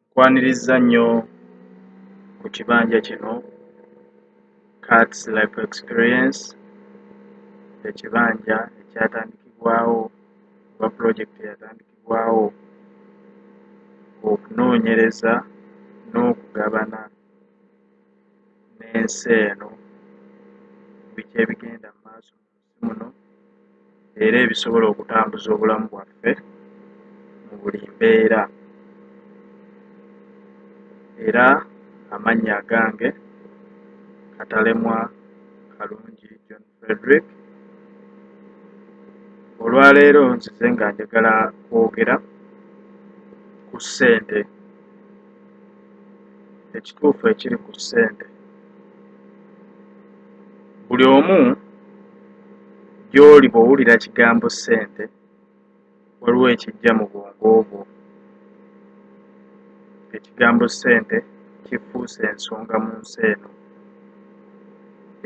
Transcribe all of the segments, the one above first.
nkwanirizza nnyo ku kibanja kino cats life experience ekibanja ekyatandikibwawo oba project yatandikibwawo okunoonyereza n'okugabana n'ensi eno biki ebigenda mu maaso mu muno era ebisobola okutambuza obulamu bwaffe mu buli mbeera era amannya agange katalemwa kalungi john frederick olwaleero nzize nga njagala kwogera ku ssente ekituufu ekiri ku ssente buli omu gy'oli bw'owulira kigambo ssente waliwo ekijja mu bwongo bwo ekigambo ssente kifuuse ensonga mu nsi eno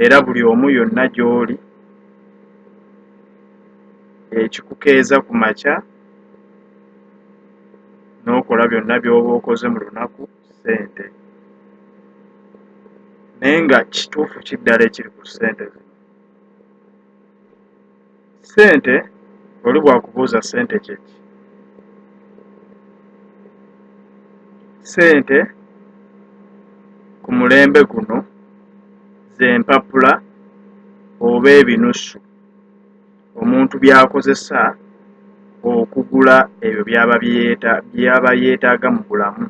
era buli omu yonna gy'oli ekikukeeza ku makya n'okola byonna by'oba okoze mu lunaku sente naye nga kituufu kiddala ekiri ku sente zino sente oli bwakubuuza sente kyeki sente ku mulembe guno zempapula oba ebinusu omuntu by'akozesa okugula ebyo by'aba yeetaaga mu bulamu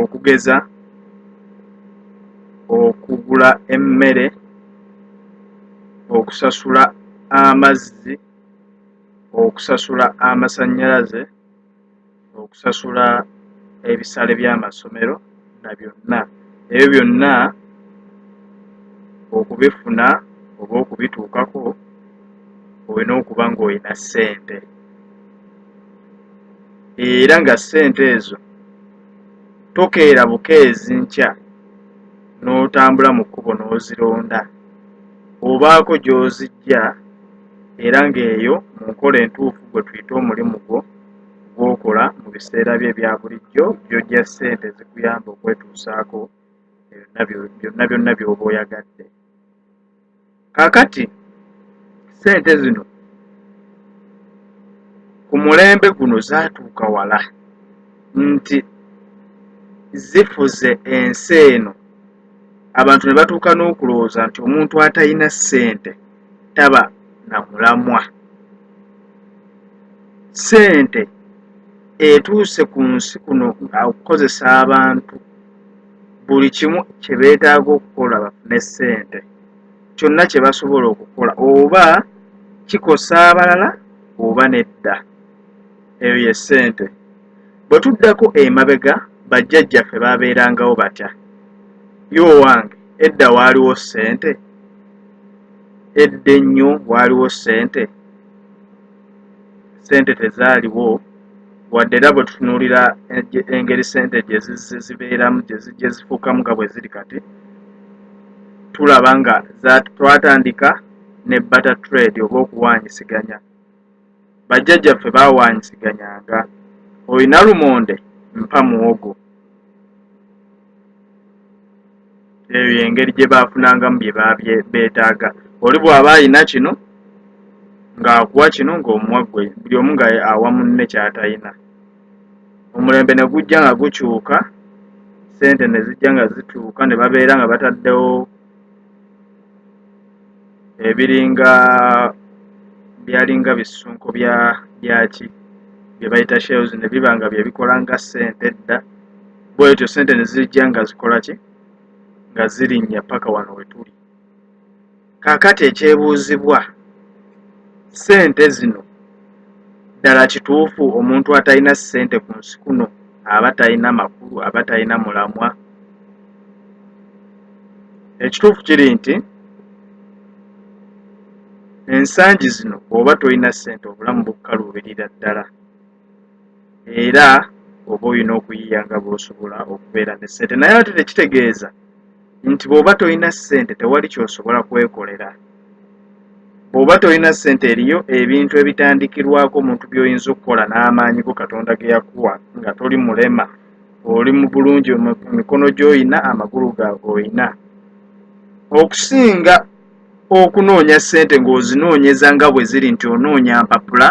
okugeza okugula emmere okusasula amazzi okusasula amasannyalaze okusasula ebisale by'amasomero na byonna ebyo byonna okubifuna oba okubituukako olina okuba ng'olina ssente era nga ssente ezo tokeera bukeezi nkya n'otambula mu kkubo n'ozironda obaako gy'ozijja era ng'eyo mu nkola entuufu gwe tuyita omulimu gwo gw'okola mu biseera byo ebya bulijjo by'ojja ssente ezikuyamba okwetuusaako byonna byonna by'oba oyagadde kaakati ssente zino ku mulembe guno zaatuuka wala nti zifuze ensi eno abantu ne batuuka n'okulowooza nti omuntu atalina ssente taba na mulamwa sente etuuse ku nsi kuno okukozesa abantu buli kimu kye beetaaga okukola bafune sente kyonna kye basobola okukola oba kikosa abalala oba nedda eyo ye ssente bwe tuddako emabega bajjajjaffe baabeerangawo batya ye owange edda waaliwo ssente edda ennyo waaliwo ssente ssente tezaaliwo wadde era bwe tutunuulira engeri ssente gye zibeeramu gye zifuukamu nga bwe ziri kati tulaba nga twatandika ne bata trade oba okuwaanyisiganya bajjajjaffe bawaanyisiganyanga olina lumonde mpa muwogo eyo yengeri gye baafunangamu bye beetaaga oli bw'aba alina kino ng'akuwa kino ng'omuwa gwe buli omu nga awa munne ky'atalina omulembe ne gujja nga gukyuka ssente ne zijja nga zituuka ne babeera nga bataddewo ebiringa byalinga bisunko bya byaki bye bayita shells ne biba nga bye bikola nga ssente edda bwetyo ssente ne zijja nga zikola ki nga zirinnya paka wano we tuli kaakati ekyebuuzibwa ssente zino ddala kituufu omuntu atalina ssente ku nsi kuno aba talina makulu aba talina mulamwa ekituufu kiri nti ensangi zino oba tolina sente obulamu bukukaluubirira ddala era oba olina okuyiya nga bwosobola okubeera ne sente naye ate tekitegeeza nti bwoba tolina sente tewali kyosobola kwekolera bwoba tolina sente eriyo ebintu ebitandikirwako omuntu byoyinza okukola n'amaanyi go katonda geyakuwa nga toli mulema oli mu bulungi emikono gy'olina amagulu ga olina okusinga okunoonya ssente ng'ozinoonyeza nga bwe ziri nti onoonya mpapula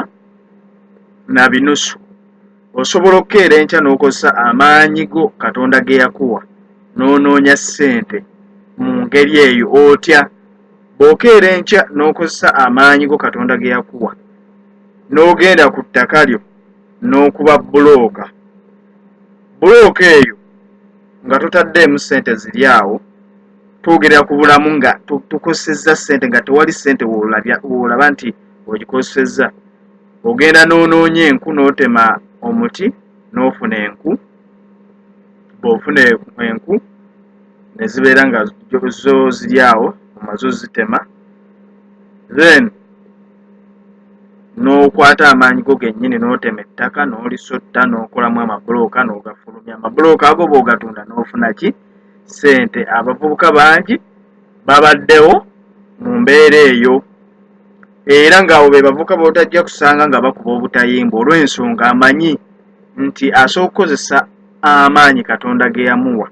na binusu osobola okukeera enkya n'okozesa amaanyi go katonda ge yakuwa n'onoonya ssente mu ngeri eyo otya bw'okeera enkya n'okozesa amaanyi go katonda ge yakuwa n'ogenda ku ttaka lyo n'okuba bbulooka bbulooka eyo nga totaddeemu ssente ziri awo twogerera ku bulamu nga tukozesezza ssente nga tewali ssente woolaba nti ogikozesezza ogenda n'onoonya enku n'otema omuti n'ofuna enku bw'ofuna enku ne zibeera nga zo ziri awo omaze ozitema then n'okwata amaanyi go gennyini n'otema ettaka n'olisotta n'okolamu amabulooka n'ogafulumya amabulooka ago bw'ogatunda n'ofuna ki ssente abavubuka bangi babaddewo mu mbeera eyo era ng'abo be bavubuka b'otajja kusanga nga bakuba obutayimbwa olw'ensonga amanyi nti asooka okukozesa amaanyi katonda ge yamuwa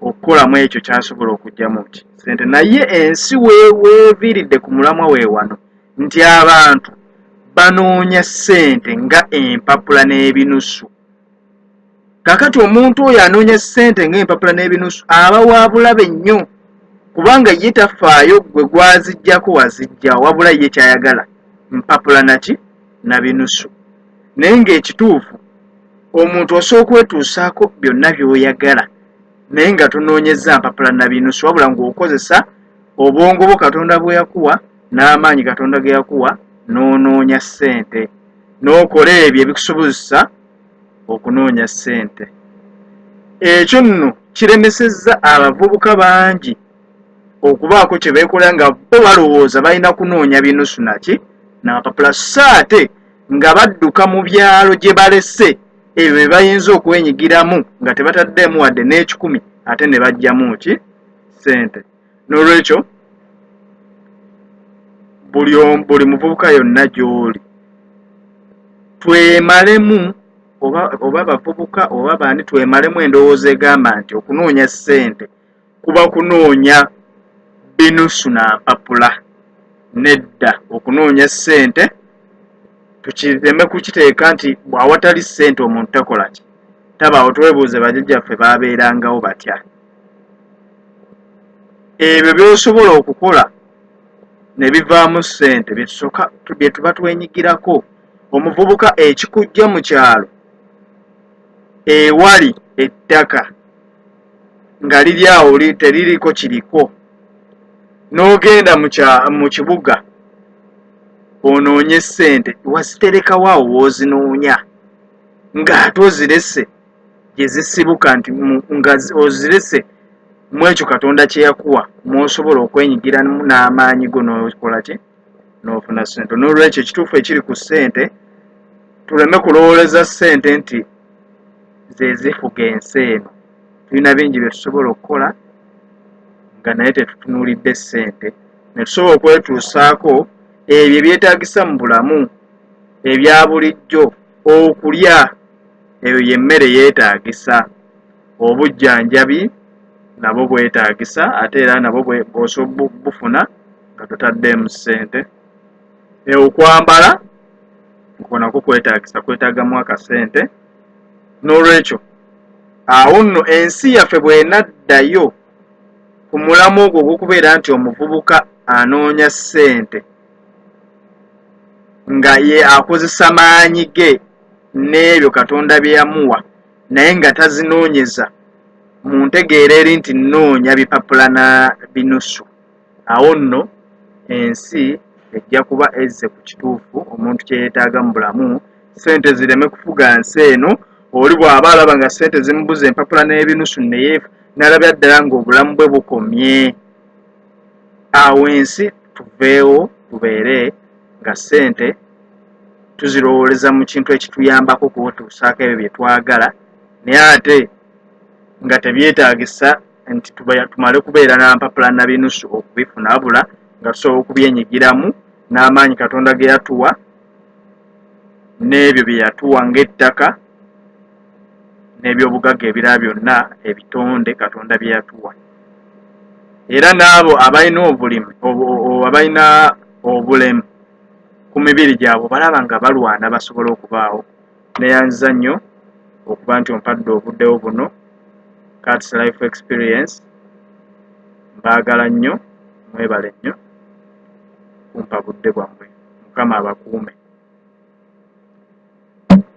okukolamu ekyo kyasobola okugyamu ki sente naye ensi weweviiridde ku mulamwa we wano nti abantu banoonya sente nga empapula n'ebinusu kakati omuntu oyo anoonya sente nga empapula n'ebinusu aba wabulabe nnyo kubanga ye tafaayo gwe gwazijjako wazijja wabula ye kyayagala mpapula naki na binusu naye ng'ekituufu omuntu osooka okwetuusaako byonna by'oyagala naye nga tonoonyezza mpapula na binusu wabula ng'okozesa obwongo bwo katonda bwe yakuwa n'amaanyi katonda ge yakuwa n'onoonya ssente n'okola ebyo ebikusobozesa okunoonya ssente ekyo nno kiremesezza abavubuka bangi okubaako kye beekola nga bo balowooza balina kunoonya binusu naki n'amapapula so ate nga badduka mu byalo gye balese ebyo bye bayinza okwenyigiramu nga tebataddeemu wadde n'ekikumi ate ne bajjamu ki ssente n'olwekyo buli buli muvubuka yonna gy'oli twemalemu oba bavubuka oba baani twemalemu endowooza egamba nti okunoonya ssente kuba kunoonya binusu na mpapula nedda okunoonya ssente tukireme kukiteeka nti bw'awatali ssente omuntu takola ki tabaawo twebuuze bajajjaffe baabeerangawo batya ebyo by'osobola okukola ne bivaamu ssente byetusoka bye tuba twenyigirako omuvubuka ekikujja mu kyalo ewali ettaka nga liri awo teririko kiriko n'ogenda mu kibuga onoonye ssente waziterekawo awo woozinoonya ng'ate ozirese gye zisibuka nti nga ozirese mu ekyo katonda kye yakuwa mw'osobola okwenyigiramu n'amaanyi go n'okola ki n'ofuna ssente n'olwekyo ekituufu ekiri ku ssente tuleme kulowooleza ssente nti ze zifuga ensi eno tulina bingi bye tusobola okukola nga naye tetutunuulidde ssente ne tusobola okwetuusaako ebyo ebyetaagisa mu bulamu ebya bulijjo okulya eyo y'emmere yeetaagisa obujjanjabi nabwo bwetaagisa ate era nabwo bw'osobola bufuna nga totaddeemu ssente e okwambala nko nako kwetagisa kwetagamu akasente n'olwekyo awo nno ensi yaffe bwenaddayo ku mulamu ogwo ogw'okubeera nti omuvubuka anoonya ssente nga ye akozesa maanyi ge n'ebyo katonda bye yamuwa naye nga tazinoonyeza mu ntegeera eri nti nnoonya bipapula na binusu awo nno ensi ejja kuba ezze ku kituufu omuntu kye yeetaaga mu bulamu ssente zireme kufuga nsi eno oli bw'aba alaba nga ssente zimubuza empapula n'ebinusu naye nalabya ddala ng'obulamu bwe bukomye awo ensi tuveewo tubeere nga ssente tuzirowooleza mu kintu ekituyambako kuwetuusaako ebyo bye twagala naye ate nga tebyetaagisa nti tumale kubeera na mpapula na binusu okubifuna abula nga tusobola okubyenyigiramu n'amaanyi katonda ge yatuwa n'ebyo bye yatuwa ng'ettaka n'ebyobugagga ebirala byonna ebitonde katonda bye yatuwa era n'abo abalina obulimi abalina obulemu ku mibiri gyabwe balaba nga balwana basobola okubaawo neyanziza nnyo okuba nti ompadde obuddewo buno cats life experience mbaagala nnyo mwebale nnyo kumpa budde bwammwe mukama abakuume